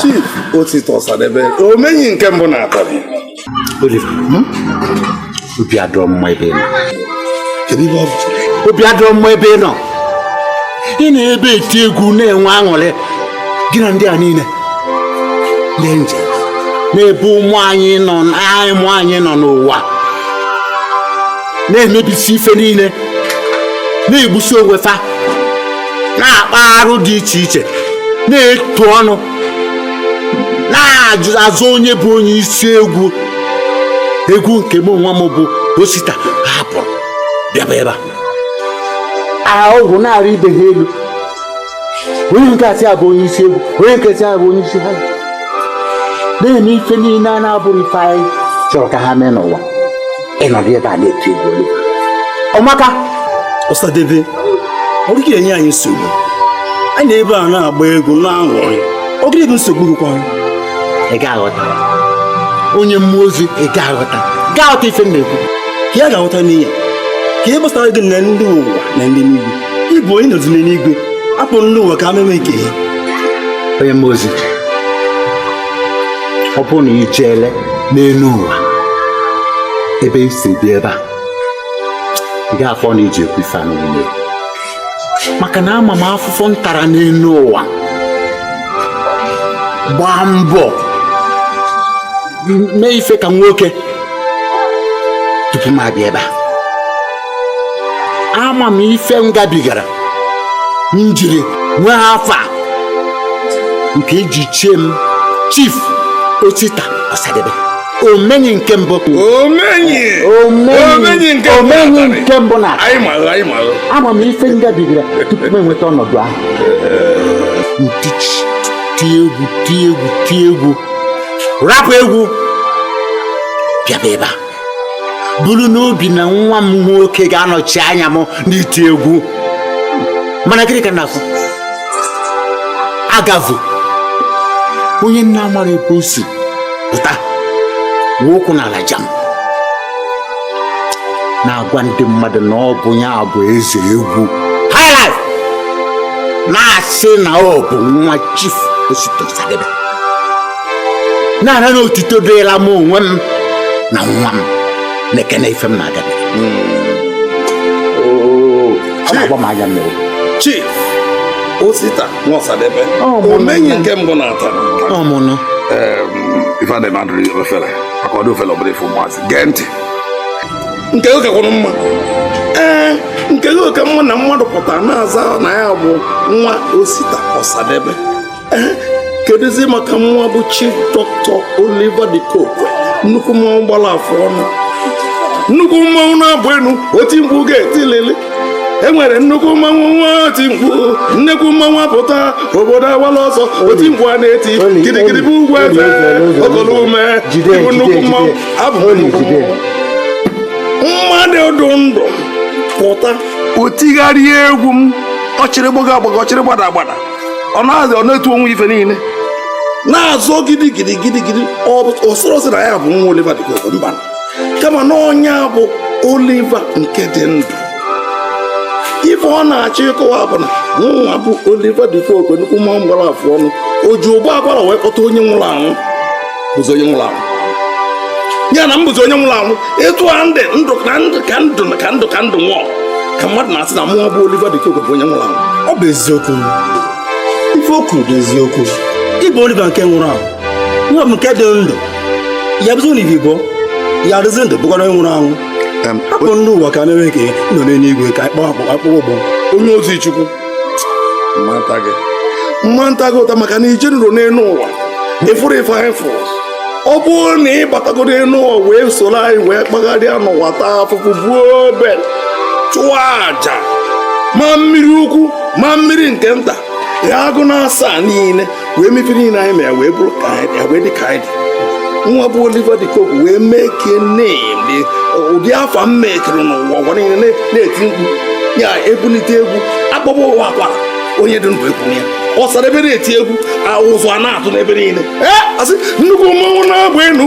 Chief Osita Osadebe omenyi nke mbụ na Atanị Oliver hmm? obi adịrọ m mma ebe ị nọ obi adịrọ m mma ebe ị nọ ị nọ ebe a eti egwu na-enwe aṅụrị gị na ndị a niile ndị nje na-ebe ụmụ anyị nọ ụmụ anyị nọ n'ụwa na-emebisi ife niile na-egbusi onwe fa na-akpa arụ dị iche iche na-etu ọnụ na-azọ onye bụ onye isi egwu egwu nke mụ nwa bụ osita hapụrụ bịaba ebe a ọgwụ na-arị ibe ha elu onye nke a sị ya bụ onye isi egwu onye nke a sị ya bụ onye isi ha na-eme ife niile a na-abụrọ ife anyị chọrọ ka ha mee n'ụwa ị nọdụ ebe a na-eti egwu olu ọmaka ọsadebe ọ gị enye anyị nsogbu anyị nọ ebe a na-agba egwu na-aṅụrị ọ gịnị bụ nsogbu gịkwa ị ga-aghọta onye mmụọ ozi ị ga-aghọta ga-aghọta ife m na-ekwu ka ya ga-aghọta n'ihi na kee gbasara gị na ndị ụwa na ndị n'igwe ị bụ onye nọzi n'eluigwe hapụ ndị ụwa ka ha mewe nke ya onye mmụọ ozi ọ bụrụ na i jeele n'elu ụwa ebe i si bịa ebe a ị ga-afụ na iji ekwu ife a niile maka na ama m afụfụ m tara n'elu ụwa gbaa mbọ mee ife ka nwoke tupu m abịa ebe a ama m ife m gabigara m jiri nwee afa nke e ji chie m chief osita ọsadebe omenyi nke mbụ omenyi omenyi nke mbụ omenyi na Atanị. nke mbụ na anyị malụ anyị malụ ama m ife m gabigara tupu m enweta ọnọdụ ahụ m tichie tie egwu tie egwu tie egwu rapụ egwu bịaba ebe a bụrụ n'obi na nwa m nwoke ga-anọchi anya m n'iti egwu mana gịnị ka m na-afụ agavụ onye m na-amarọ ebe o si pụta wee ụkwụ n'ala jam na-agwa ndị mmadụ na ọ bụ ya bụ eze egwu highlife na-asị na ọ bụ nwa chief osita osadebe na-ara na otuto dịla m onwe m na nwa m nekene ife m na-agabiga ọ na-agba m anya mmiri chief osita nwa ọsadebe Ọ, mụ omenyi na- nke mbụ na Atanị ọ mụ nụ ife adịghị mmadụ ri ofele maka ọdụ ofele ọbụla ife ụmụazị gee ntị nke gị kakwụrụ mma ee nke gị ọ ka mma na mmadụ pụtara na-aza na ya bụ nwa osita ọsadebe kedụzi maka nwa bụ chief dọkịta Oliver De Coque nnukwu mmanwụ gbara afọ ọnụ nnukwu mmanwụ na-abụ enu oti mkpu ga-etilili enwere nnukwu mmanwụ nwee oti mkpu nnekwu mmanwụ apụta obodo awala ọsọ oti mkpu a na-eti gidigidi bụ ugwu eze okolo ume ịbụ nnukwu mmanwụ abụ m nnukwu mmanwụ mmadụ dụ ndụ pụta o tigharịa egwu m ọ chịrị gbaga agbaga ọ chịrị gbada agbada ọ na-asị ọ na-etu onwe ife niile na-azọ gidi gidi gidi gidi o soro sị na ya bụ nwa Oliva De Coque mba kama na ọ nya bụ Oliva nke dị ndụ ife ọ na-achọ ịkọwa bụ na nwa bụ Oliva De Coque nnukwu mmanwụ gbara afụ ọnụ o ji ụbọ akwara wee kpọta onye nwụrụ anwụ bụzi onye nwụrụ anwụ ya na m bụzi onye nwụrụ anwụ etu a m dị ndụ ndụ ka ndụ nwụọ ka mmadụ na-asị na mụwa bụ Oliver De Coque bụ onye nwụrụ anwụ ọ bụ eziokwu ife o kwu bụ eziokwu ị bụ Oliver nke nwụrụ anwụ ọ bụ nke dị ndụ ya bụzi na ivibo ya adịzi ndụ bụkwara onye nwụrụ anwụ hapụ ndị ụwa ka mewe nke nọ n'eluigwe ka akpọ akpụkpọ ụbọ onye ozi Chukwu m ma-ata gị ụta maka na i jenurọ n'elu ụwa ị fụrọ ife anyị fụrụ ọ bụrụ na ị batago n'elu ụwa wee soro anyị wee kpagharịa n'ụwa taa afụfụ buo obe chụọ aja ma mmiri ukwu ma mmiri nke nta ya agụ na asaa niile wee mee ife niile anyị mere wee bụrụ ka anyị wee dị ka anyị dị nwa bụ Oliver de Coque wee make name ụdị afa m mekere n'ụwa ụwa niile na-eti mkpu ya ebulite egwu akpọba ụbọ akwa onye dị ndụ ekunie Osadebe na-eti egwu a ụzụ a na-atụ n'ebe niile ee asị nnukwu mmanwụ na-agba enu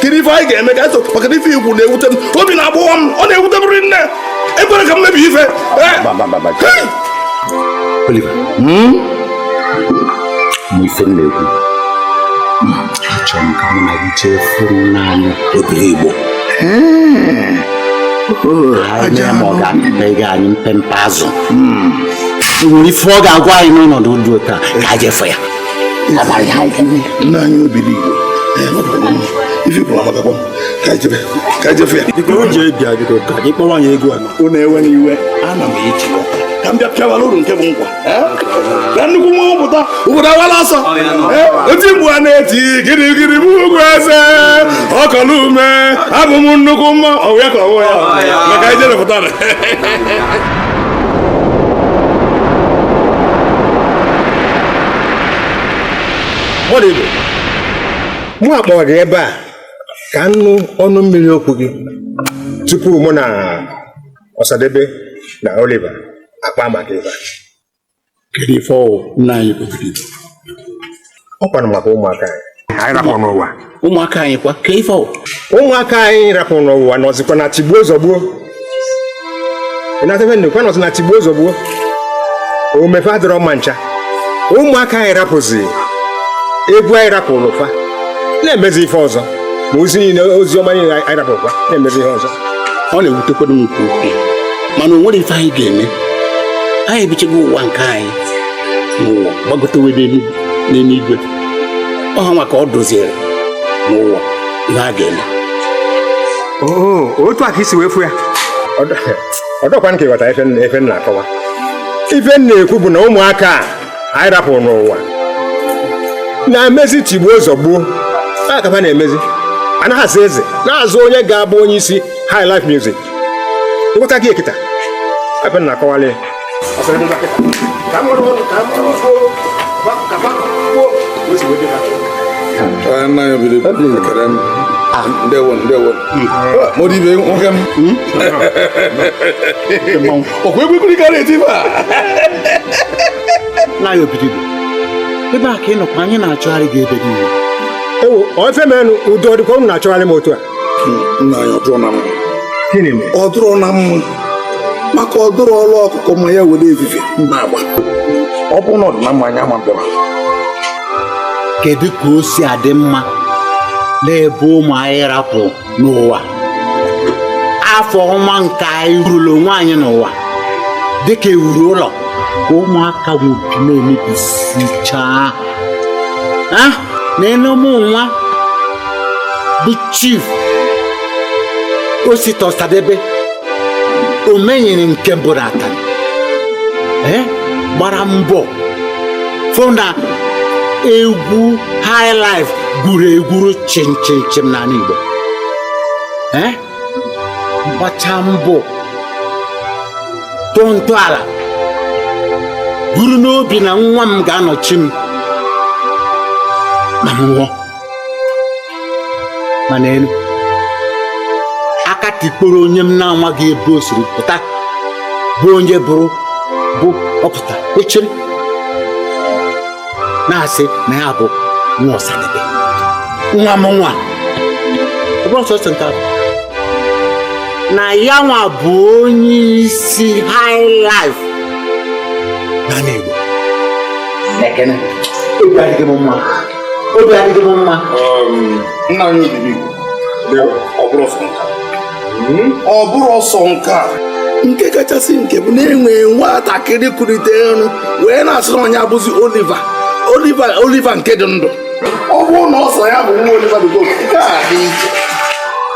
kedu ife anyị ga-eme ka eso maka na ife i kwu na-ewute m obi na-agbawa m ọ na-ewute m rinne ekwele ka m mebie ife Oliver hmm? ma ife m na-ekwu achọrọ m ka mụ na gị jee fụ nna anyị Obiligbo anyị ma ọ ga-apịta ego anyị mpempe azụ hmm. nwere ife ọ ga-agwa anyị n'ọnọdụ dị otu a ka anyị je fụ ya nna anyị Obiligbo ife bụ amatakwa ka ejebe ka ejefe ya biko o ji bịa biko ka gị kpọwa anyị egwu a unu ewena iwe ana m eji ka m bịa pịawara unu nke bụ nkwa ka nnukwu mmanwụ pụta obodo awala ọsọ oti mkpu a na-eti gidigidi bụ ugwu eze okolo ume abụ m nnukwu mmanwụ ya ka ọwụ ya maka i jere pụtara mmadụ ibe mụ akpọrọ gị ebe a ka m nụ ọnụ mmiri okwu gị tupu mụ na Osadebe na Oliva akpaa maka ife a kedu ife ọwụ nna anyị kpebiri ọ kwanụ maka ụmụaka anyị anyị rapụ n'ụwa ụmụaka anyị kwa ka ife ọwụ ụmụaka anyị rapụ n'ụwa nọzikwa na tigbuo zọgbuo ị ghọta ife m na-ekwu nọzi na tigbuo zọgbuo ome ife adịrọ mma ncha ụmụaka anyị rapụzi egwu anyị rapụlụ fa na-emezi ife ọzọ ma ozi niile ozi ọma niile anyị rapụkwa na-emezi ihe ọzọ ọ na-ewutekwado m nke ukwuu mana o nwere ife anyị ga-eme anyị ebichago ụwa nke anyị n'ụwa gbagotewe n'elu- n'eluigwe ọ ha nwa ka ọ dịziri n'ụwa ihe ha ga-eme oo otu a ka e si wee fụ ya ọ dịkwa m ka ị ghọta ife m na-akọwa ife m na-ekwu bụ na ụmụaka a anyị rapụrụ n'ụwa na-emezi tigbuo zọgbuo a ka ha na-emezi a na ha azọ eze na-azọ onye ga-abụ onye isi high life music m ghọtago kịta ife ị na-akọwala ya ndewo ndewo modibe nwoke m ọ kwa egwu ekpili ka ị na-eti ife a nna anyị Obiligbo ebe a ka ị nọkwa anyị na-achọgharị gị ebe niile ewu ofe menụ udo ọ dịkwa unu na-achọgharị m otu a nna anyị ọ dịrọ na mma gịnị mere ọ dịrọ na mma maka ọ dịrịrọ ọkụkọ ma ya were evivie na-agba ọ bụrụ na ọ dị na mma anyị ama mbịaba kedu ka o si adị mma n'ebe ụmụ anyị rapụrụ n'ụwa afa ọma nke anyị wuru onwe anyị n'ụwa dịka e wuru ụlọ ka ụmụaka nwoke na-emebisichaa ha nee na mụ nwa bụ chief osita ọsadebe omenyili nke mbụ n'Atani gbara mbọ fụ na egwu high life gwuru egwuru chim chim chim n'anị Igbo Eh? gbachaa mbọ tụọ ntọala buru n'obi na nwa m ga-anọchi m ma m nwụọ ma nee nụ aka tikporo onye m na-amaghị ebe o siri pụta bụ onye bụrụ bụ ọ pụta kwechiri na-asị na ya bụ nwa ọsadebe nwa mụ nwa ọ bụrọ sọsọ nke ahụ na ya nwa bụ onye isi high life n'anị Igbo ekene ịbịa adịghị m mma obi adịghị m mma um, nna anyị obibi ọ bụrọ sọ nke a hmm? ọ bụrọ sọ nke a nke kachasị nke bụ na e nwee nwatakịrị kuliterụ wee na-asị na ọ nya bụzi Oliver Oliver Oliver nke dị ndụ ọ bụrụ na ọ sị ya bụ nwa Oliver dị nke a dị iche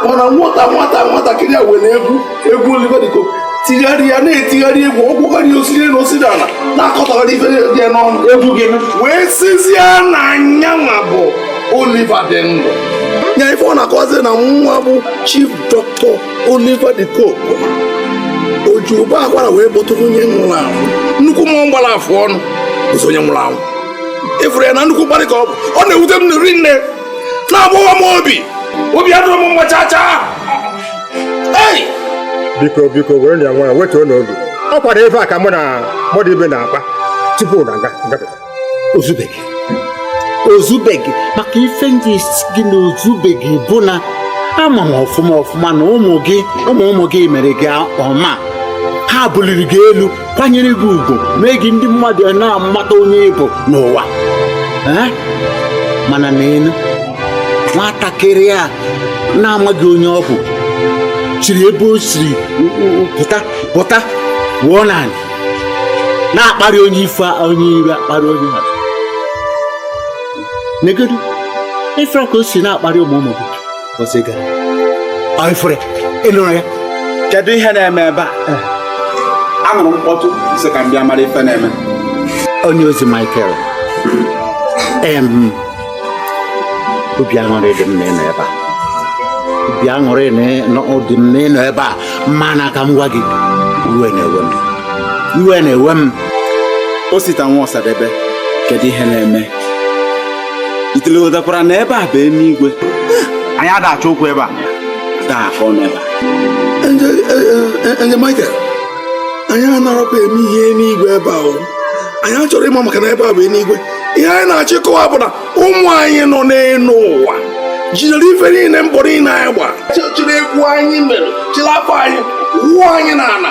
mana nwata nwata nwatakịrị a were egwu egwu Oliver De Coque tigharịa na-etigharị egwu ọ gụgharị osiri na osiri ala na-akọtagharị ife dị ya n'ọnụ egwu gị wee sịzie na nyanwa bụ Oliver dị ndụ ya ife ọ na-akọzi na nwa bụ chief doctor Oliver De Coque o ji ụbọ akwara wee kpọtụ onye nwụrụ anwụ nnukwu mmụọ gbara afụ ọnụ bụzi onye nwụrụ anwụ ị fụrụ ya na nnukwu mkparị ka ọ bụ ọ na-ewute m rinne na-agbawa m obi obi adịrọ m mma chaa chaa biko biko were ya nwayọọ wetuonụ obi ọ kwanụ ife a ka mụ na Muddy Ibe na-akpa tupu unu abata o zubeghị o zubeghị maka ife m ji sị gị na o zubeghị bụ na ama m ọfụma ọfụma na ụmụ gị ụmụ ụmụ gị mere gị ọma ha buliri gị elu kwanyere gị ugwu mee gị ndị mmadụ na-amata onye ị bụ n'ụwa mana neenụ nwatakịrị a na-amaghị onye ọ bụ chiri ebe o siri pụta pụta wụọ n'ala na-akparị onye ife onye ire akparị onye a negodu ị fụrụ ka o si na-akparị ụmụ ụmụ kedu ihe na-eme ebe a eh. anụrụ m mkpọtụ sị ka m bịa mara ife na-eme onye ozi Michael obi aṅụrị dị m na ị nọ ebe a obi aṅụrị dị m na ị nọ ebe a mana ka m gwa gị iwe na-ewe m iwe na-ewe m Osita nwa Osadebe kedu ihe na-eme itele ghọtakwara na ebe a bụ eluigwe anyị ada achọ okwu ebe a taa afọ n'ebe angel Michael anyị anarọkwa eme ihe n'igwe ebe ahụ anyị achọrọ ịma maka na ebe a bụ eluigwe ihe anyị na-achọ ịkọwa bụ na ụmụ anyị nọ n'elu ụwa jidere ife niile mbọ niile anyị gba chịrị egwu anyị mere chịrị afa anyị wụọ anyị n'ala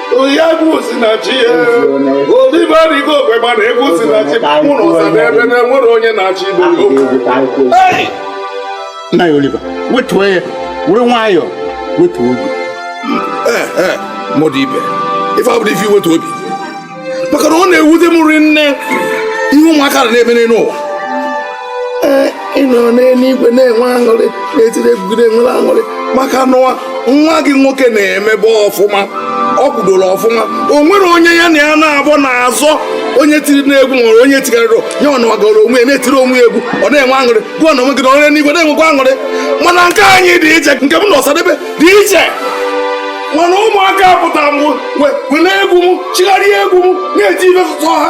ya egwu si na chi ya Oliver De Coque mana egwu si na chi mụrụ Osadebe na enwerọ onye na-achị ibe nya Oliver wetuo ya were nwayọọ wetuo obi eh, eh, Muddy Ibe ife a abụrọ ife iwetu obi maka na ọ na-ewute m rinne ihe ụmụaka na-eme n'elu ụwa ee ị nọrọ n'eluigwe na-enwe aṅụrị na-etiri egwu na-enwere aṅụrị maka n'ụwa nwa gị nwoke na-emebe ọfụma ọ kwudoro ọfụma o nwere onye ya na ya naabọ na-azọ onye tiri n'egwu nwere onye tikarịrị ya ọ nọgara onwe ya na-etiri onwe ya egwu ọ na-enwe aṅụrị gịnwa onwe gị nọ n'enuigwe na-enwekwa aṅụrị mana nke anyị dị iche nke mụ na ọsadebe dị iche mana ụmụaka apụta wee were egwu m chigharịa egwu m na-eti ife sụtọ ha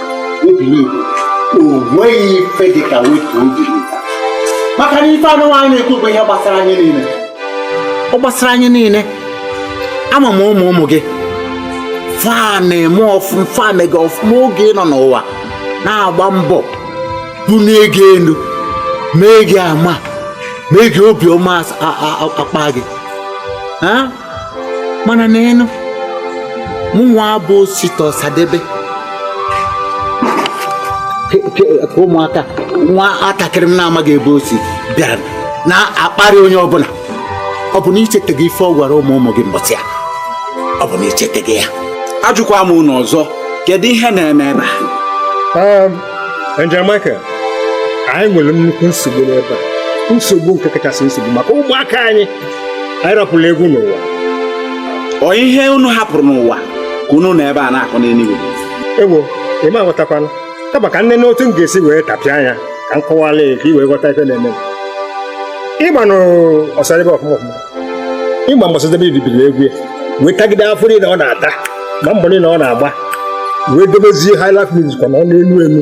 onweghị ife dị ka wetu obi maka na ife anụnwa anyị na-ekwu bụ ihe gbasara anyị niile ọ gbasara anyị niile ama m ụmụ ụmụ gị fa na-eme ọfụma fa na-eme ọfụma oge ị nọ n'ụwa na-agba mbọ bụ na-ege elu mee gị ama mee gị obiọma akpa gị mana neenụ mụnwa bụ osita ọsadebe ka ụmụaka nwatakịrị m na-amaghị ebe o si bịa na-akparị onye ọbụla ọ bụ na i cheteghị ife ọ gwara ụmụ ụmụ gị mbọsị a ọ bụ na i cheteghị ya ajụkwa m unu ọzọ kedu ihe na-eme ebe a um, Angel Michael anyị nwere nnukwu nsogbu n'ebe a nsogbu nke kachasị nsogbu maka ụmụaka anyị anyị rapụlụ egwu n'ụwa ọ ihe unu hapụrụ n'ụwa ka unu nọ ebe a na-akọ n'eluigwe ewo ị ma-aghọtakwanụ kama ka m nene otu m ga-esi wee tapịa anya ka m kọwala ya ka ị wee ghọta ife na-eme ị manụ ọsadebe ọfụma ọfụma ị ma mgbe ọsadebe bidoro egwu ya wee tagide afụfụ niile ọ na-ata ma mbọ niile ọ na-agba wee dobezie highlife music ọ nọ n'elu elu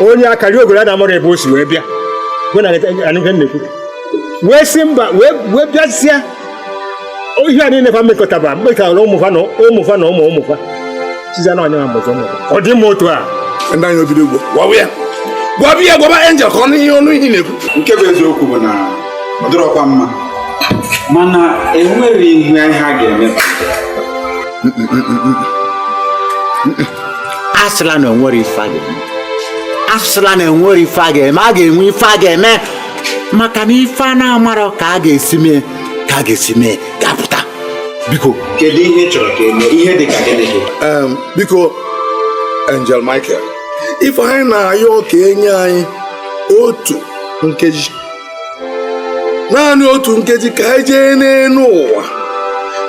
onye akariogoro a na-amarọ ebe o si wee bịa bụ na anụfe nnekwu wee si mba wee wee bịazịa ihe a niile fa mekọtaba mekọtara ụmụfa na ụmụfa na ụmụ ụmụfa siza na ọnya mbọzọ ụmụfa ọ dị mma otu a ndị anyị obido ugbo gwawa ya gwawa ya gwaba angel ka ọ nụ ihe ọ nụ ihe na-ekwu nke bụ eziokwu bụ na ọ dịrọkwa mma mana enwere ihe a ga-eme asịla na enwerọ ife a ga-eme asịla na enwerọ ife a ga-eme a ga-enwe ife a ga-eme maka na ife a na-amarọ ka a ga-esi mee ka a ga-esi mee ga-apụta biko kedu ihe ị chọrọ ka e mee ihe dị ka gịnị gị Em, biko Angel Michael ife anyị na-ayọ ka e nye anyị otu nkeji naanị otu nkeji ka anyị jee n'elu ụwa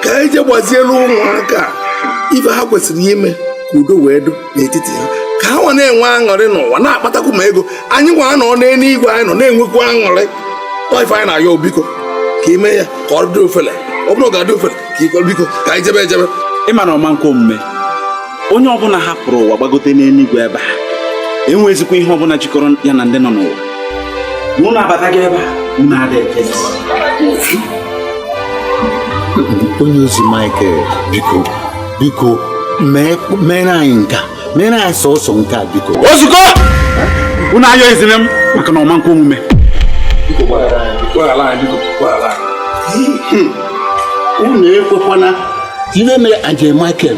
ka anyị jee gbazielu ụmụaka ife ha kwesịrị ime ka udo wee dụ n'etiti ha ka ha nwa na-enwe aṅụrị n'ụwa na-akpatakwu ma ego anyị nwa nọ n'eluigwe anyị nọ na-enwekwu aṅụrị ọ ife anyị na-ayọ biko ka i mee ya ka ọ dị ofele ọ bụrụ na ọ ga-adị ofele ka i kwe biko ka anyị jebe ejebe ị ma na ọ ma-ekwe omume onye ọbụna hapụrụ ụwa gbagote n'enigwe ebe a enwezikwa ihe ọbụna jikọrọ ya na ndị nọ n'ụwa na unu abatago ebe a unu adịghị onye ozi Michael biko biko mere anyị nka mere anyị sọsọ nke a biko o zugo unu ayọzina m maka na ọ ma nkwe omume unu ekwekwana ka iwe mere Angel Michael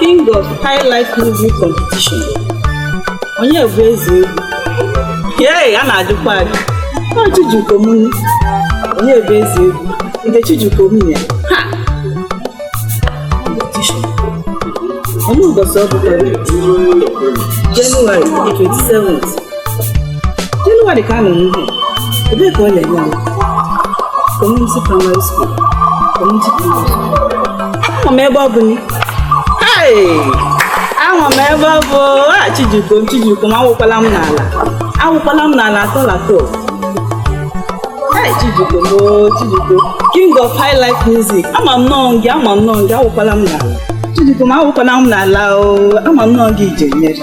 King of High Life Music Competition. Onye bụ eze egwu? Yee, a na-ajụkwa ajụ. Ọ Chijioke m nụ. Onye bụ eze egwu? Nke Chijioke m nụ. Ha! Competition. Ọ bụ ụbọchị ọ bụkwa Jenụwarị 27th. Jenụwarị ka a nọ n'ihu ebee ka ọ na-eme kọmuniti praịmarị skuul kọmuniti praịmarị ahụ m ebe ọ bụ ahụ m ebe ọ bụ a Chijioke m Chijioke m awụkwala m n'ala awụkwala m n'ala atọ na atọ Hey, Chijioke m o Chijioke king of high life music ama m na ọ gị ama m na ọ gị awụkwala m n'ala Chijioke m awụkwala m n'ala o ama m na ọ gị ije nyere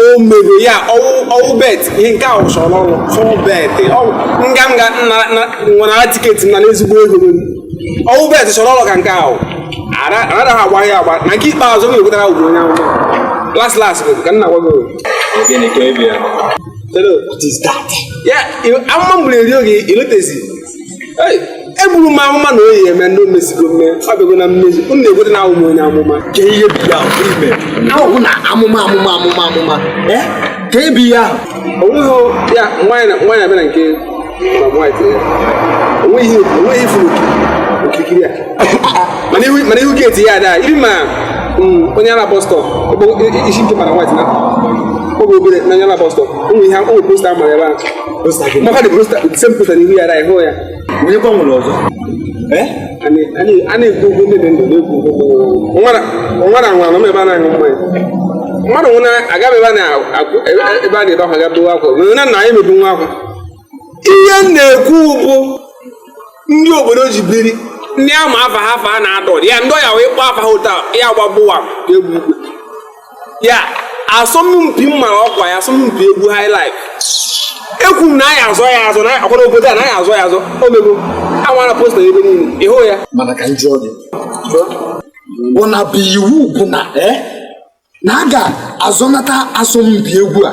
o mego ya ọwụ bet ihe nke a wụ sure odd fọwụ bet nga m ga nwanara tiketi na n'ezigbo ego ọwụ bet sure odd ka nke a wụ anaghị agba ya agba na nke ikpeazụ m ga-ekwetara ugbo onye ahụ las las bụ ka nna gwa gị Hello, what is that? Yeah, I'm not really okay. You look at eburu m amụma na ọ ya-eme ndị o mesigo mme ọ bịago na mmezu unu na-ekwete na awụm onye amụma ka ihe bi ya ime ahụ wụ na amụma amụma amụma amụma eh? ka ebi ya onweghị ya nwaanyị abịa na nke ma nwaanyị onweghị ifuru okirikiri a mana ihu geeti ya ada iri ma mm, onye ala bọstọ isi nke mara nwaanyị na oge obere na onye ala bọstọ ụmụ ihe ụmụ posta mara ebe ahụ maka the posta same posta n'ihu ya ịhụ ya onye kwa nwere ọzọ a na-ekwu okwu ndị dị ndụ na-ekwu okwu nwara nwara nwa nọ ebe a na-aṅụ mmanya mmadụ nwụna agaghị ebe a na-akụ ebe a na-ebe akwa ga tụwa akwa nwere na nna anyị mebu nwa akwa ihe m na-ekwu bụ ndị obodo ji biri ndị ama afa ha afa a na-adọ ya ndị ọya wee kpọọ afa ha ụta ya gbagbụwa egwu ukwe ya asọmpi mma ọkwa ya asọmpi egwu high life ekwu m na a ya-azọ ya azọ na akwara obodo a na a ya-azọ ya azọ o mego a mara posta ebe niile ịhụ ya mana ka m jụọ gị bụ na bụ iwu bụ na eh, na a ga-azọnata asọmpi egwu a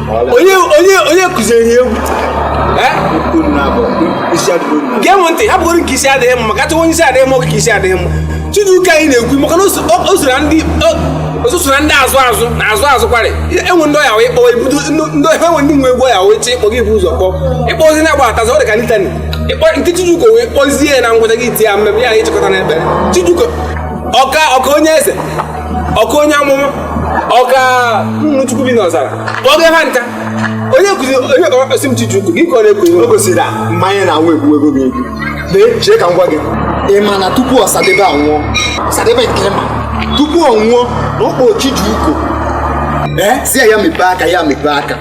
onye onye onye kụziri egwu gee m ntị hapụgoro nke isi adịghị mma maka onye isi adịghị mma oge ka isi adịghị mma Chiduka anyị na-ekwu maka na o soro ndị ọsụsụ na ndị azụ azụ na azụ azụ kwarị enwe ndị ọya wee kpọwa ebudo ndị ọya enwe ndị nwe egwu ọya wee chee ị kpọghị i bu ụzọ kpọọ ị kpọzie na-agbadatazi ọ dị ka litani ịkpọ nke Chiduka wee kpọzie ya na ngwụcha gị iti ya mmemme ya na ịchịkọta na ekpere Chiduka ọka ọka Onyenze ọka onye amụma ọka nnụnụ chukwu bi n'ọzara kpọọ gị ha nka onye kuzi onye ka ọkpasị m Chijioke gị ka ọ na-ekwu o gosiri na mmanya na anwụ egbugo gị egbu lee chee ka m gwa gị ị ma na tupu Osadebe anwụọ Osadebe nke ma tupu ọ nwụọ na ọ kpọọ Chijioke ee si ya ya mepee aka ya mepee aka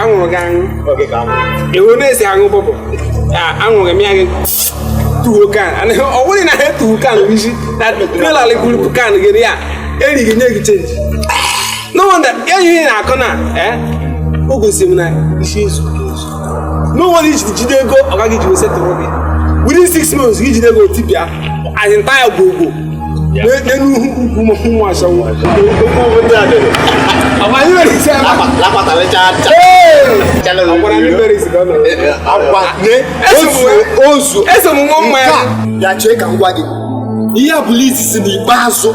aṅụrụ gị aṅụ ewu na-esi aṅụ bọbọ aṅụghị m ya gị two can anaghị ọ bụrụ na ha etuwo kan isi na trailer alịkwuru kan gị ya eri gị nye gị change no wonder enyi na-akọ na o gosiri m na isi ezu no wonder i ji jide ego ọ gaghị ji wesetụrụ gị within six months gị jide ego o tipịa anyị nta ya gwogwo n'elu ukwu ụmụ ashawo anyị nwere isi ama agwara ndị mere isi ka ọ nọ ozu esomume mma ya ya chee ka m gwa gị ihe a bụ list si n'ikpeazụ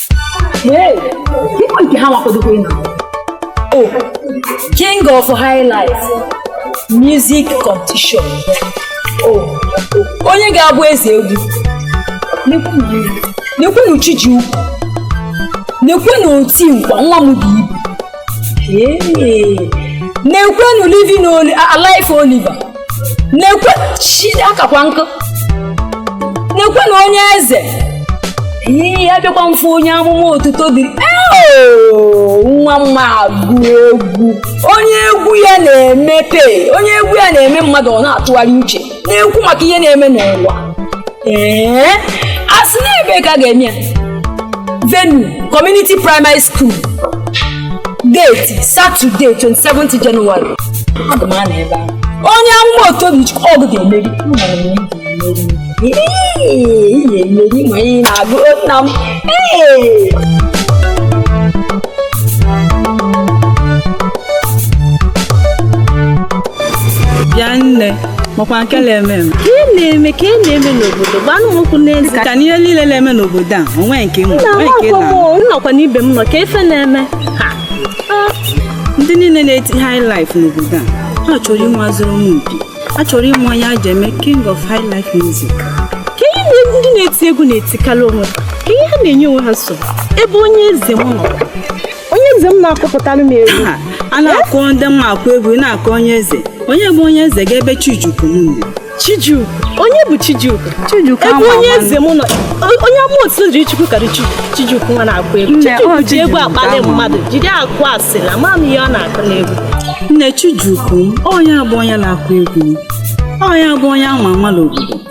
nke ha nwakodokwe na o king of high life music competition o onye ga-abụ eze egwu nekwenu Chijioke nekwenu oti nkwa nwa m dị ibu nekwenu living alive oliver nekwe chide akakwa nkụ nekwenu Onyenze ihe ya bịakwa mfe onye amụma otuto dị nwa mma agụ egwu onye egwu ya na-emepe onye egwu ya na-eme mmadụ ọ na-atụgharị uche na-ekwu maka ihe na-eme n'ụwa ee a sị na ebe ka a ga-eme ya venue community primary school Date Saturday 27th January. Aga m anọ ebe ahụ. Onye amụma Otobichukwu ọ gị ga-emeri. Amara m na ị ga-emeri. Ee, ị ga-emeri ma ị na-agụ nna m. Ee. bịa nne makwa nke na-eme eme. ka ị na-eme ka ị na-eme n'obodo gbanụ m ụkwụ n'ezi ka n'ihe niile na-eme n'obodo a onwe nke m na onwe nke amakwa m na o, nnọkwa n'ibe m nọ ka ife na-eme Ha. Ah, ndị niile na-eti high life n'obodo a ha chọrọ ime asọrọmpi a chọrọ ịma onye a ji eme king of high life music ka ihe na- ndị na-eti egwu na-etikarị onwe ha ka ihe ha na-enye onwe ha nsogbu ebe Onyenze m nọ onye eze m na-akụpụtara m egwu a na-akụ ndị mma akụ egwu ị na-akụ onye eze onye bụ onye eze ga-ebe Chijukwu m Chijukwu onye bụ Chijukwu Chijukwu ebe onye eze m nọ onye ama otu jiri Chukwu karị Chijukwu nwa na-akụ egwu Chijukwu ji egwu akpali mmadụ jiri akụ asị na ma m ihe ọ na-akụ n'egwu nne Chijukwu onye abụ onye na-akụ egwu onye abụ onye ama ama n'obodo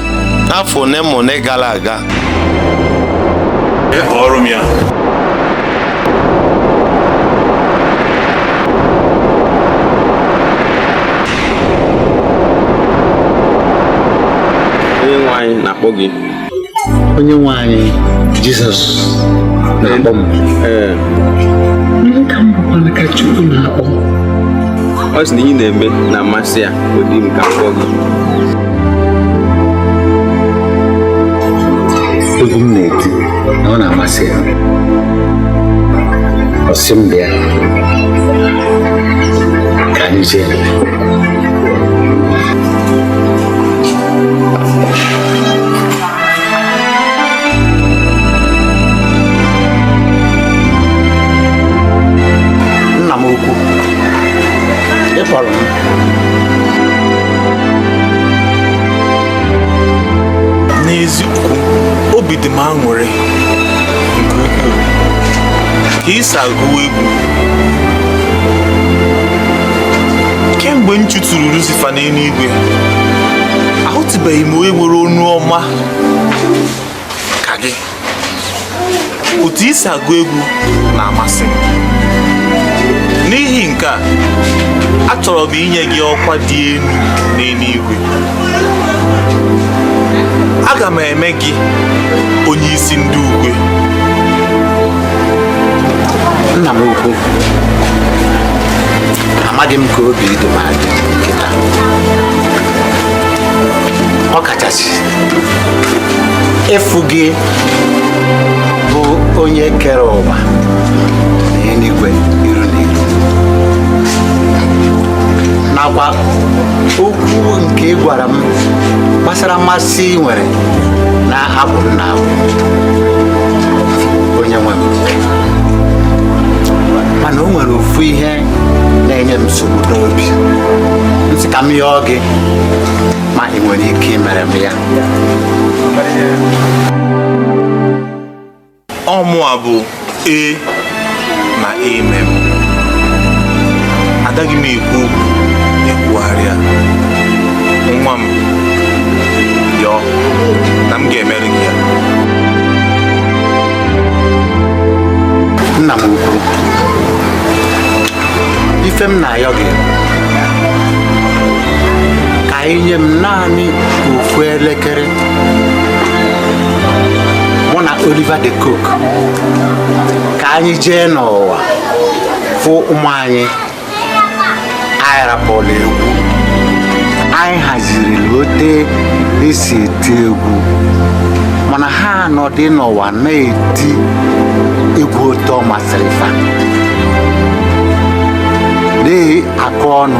n'afọ one ma one gara aga ọrụ m ya onye nwe anyị na-akpọ gị onye nwe anyị jizọs na-akpọ m ee ndị ka m bụkwana ka chukwu na-akpọ ọ sị na ihe ị na-eme na-amasị ya ọ dị m ka m kpọọ gị egwu m na-eti na ọ na-amasị ya ọ sị m bịa ka anyị jee nna m ukwu ị kpọrọ m n'eziokwu obi dị m aṅụrị nke ukwuu ka i si agụwa egwu kemgbe m chụturu Lucifer n'enuigwe ahụtụbeghị m onye nwere onu ọma ka gị otu i si agụ egwu na-amasị m n'ihi nke a achọrọ m inye gị ọkwa dị enu n'enuigwe aga m eme gị onye isi ndị ukwe nna m ukwu amaghị m ka obi dị m adị kịta ọ kachasị ịfụ gị bụ onye kere ụwa na enuigwe iru na iru nakwa okwu nke ị gwara m gbasara mmasị i nwere n'abụ m na-abụ onye nwe m mana o nwere ofu ihe na-enye m nsogbu n'obi m sị ka m yọọ gị ma ị nwere ike imere m ya ọ mụa bụ ee na amen adaghị m ekwu okwu ekwugharịa nwa m yọọ na m ga-emere gị ya nna m ukwu ife m na-ayọ gị ka i nye m naanị ofu elekere mụ na Oliver de Coque ka anyị jee n'ụwa fụ ụmụ anyị anyị rapụlụ egwu anyị haziri otu e si eti egwu mana ha anọdị n'ụwa na-eti egwu otu ọ masịrị fa akụ ọnụ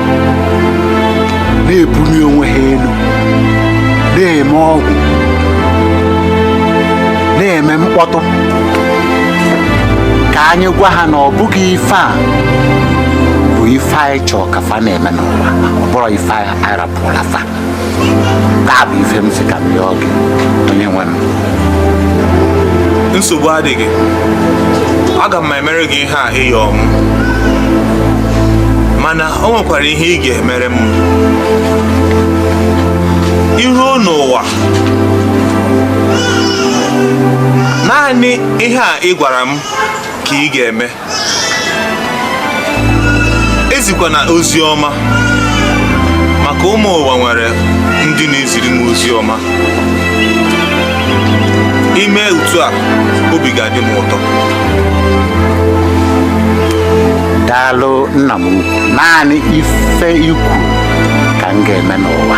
na-ebuli onwe ha elu na-eme ọgwụ na-eme mkpọtụ ka anyị gwa ha na ọ bụghị ife a bụ ife anyị chọọ ka fa na-eme n'ụwa ọ bụrọ ife anyị rapụlụ fa nkaa bụ ife m sị ka m yọọ gị onye nwe m nsogbu adịghị aga m emere gị ihe a ị yọ m mana o nwekwara ihe ị ga-emere m i ruo n'ụwa naanị ihe a ị gwara m ka ị ga-eme ezikwana ozi ọma maka mụwa nwere ndị na-eziri m ozi ọma i mee otu a obi ga-adị m ụtọ daalụ nna m ukwu naanị ife i kwu ka m ga-eme n'ụwa